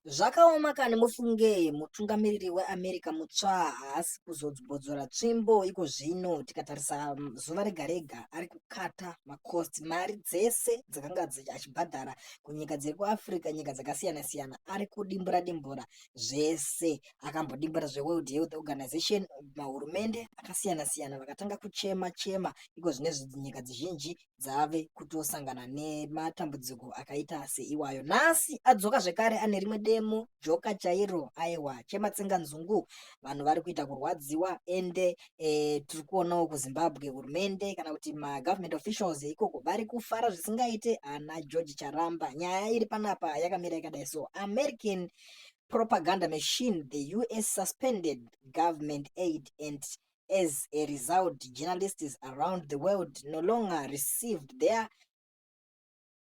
Zvakaoma kani mufunge mutungamiriri weAmerica mutsva haasi kuzobodzora tsvimbo iko zvino tikatarisa mm, zuva rega rega ari kukata makosti mari dzese dzakanga achibhadhara kunyika dziri kuafrica nyika dzakasiyana siyana ari kudimbura dimbura zvese akambodimbura zveworld health organization mahurumende akasiyana siyana vakatanga kuchema chema iko zvine nyika dzizhinji dzave kutosangana nematambudziko akaita seiwayo nhasi adzoka zvekare ane rimwe demo joka chairo aiwa chematsenga nzungu vanhu vari kuita kurwadziwa ende e, tiri kuonawo kuzimbabwe hurumende kana kuti magovernment officials ikoko vari kufara zvisingaite ana george charamba nyaya iri panapa yakamira yakadai so american propaganda machine the us suspended government aid and As a result, journalists around the world no longer received their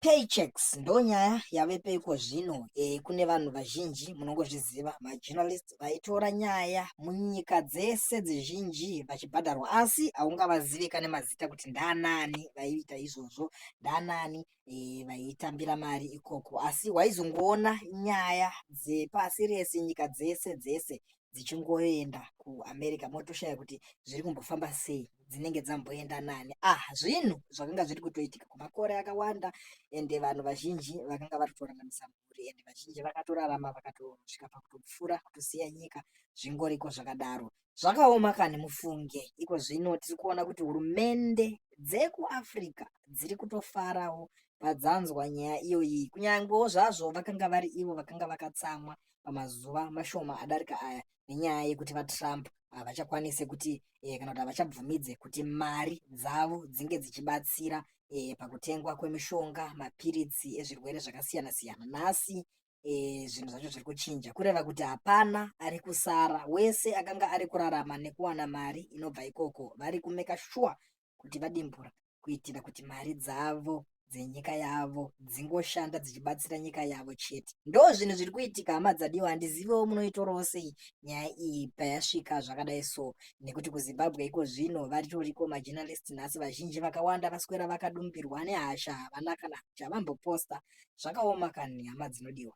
paychecks ndonyaya yavepo iko zvino e, kune vanhu vazhinji munongozviziva majournalist vaitora nyaya munyika dzese dzizhinji vachibhadharwa asi haungavazive kane mazita kuti ndanani vaiita izvozvo ndanani e, vaitambira mari ikoko asi waizongoona nyaya dzepasi rese nyika dzese dzese dzichingoenda kuamerica motoshaya kuti zviri kumbofamba sei dzinenge dzamboenda nani ah zvinhu zvakanga zviri kutoitika kumakore akawanda ende vanhu vazhinji vakanga vari kutoraramisa mhuri ende vazhinji vakatorarama vakatosvika pakutopfura kutosiya nyika zvingoriko zvakadaro zvakaoma kani mufunge iko zvino tiri kuona kuti hurumende dzekuafrica dziri kutofarawo padzanzwa nyaya iyoyi kunyangewo zvazvo vakanga vari ivo vakanga vakatsamwa vaka pamazuva mashoma adarika aya nenyaya yekuti vatrump havachakwanise kuti e, kana kuti havachabvumidze kuti mari dzavo dzinge dzichibatsira e, pakutengwa kwemishonga mapiritsi ezvirwere zvakasiyana siyana nhasi e, zvinhu zvacho zviri kuchinja kureva kuti hapana ari kusara wese akanga ari kurarama nekuwana mari inobva ikoko vari kumeka shuwa kuti vadimbura kuitira kuti mari dzavo dzenyika yavo dzingoshanda dzichibatsira nyika yavo chete ndo zvinhu zviri kuitika hama dzadiwa handizivewo munoitorawo sei nyaya iyi payasvika zvakadai so nekuti kuzimbabwe iko zvino varitoriko majournalist nhasi vazhinji vakawanda vaswera vakadumbirwa nehasha havana kana chavamboposta zvakaoma kani hama dzinodiwa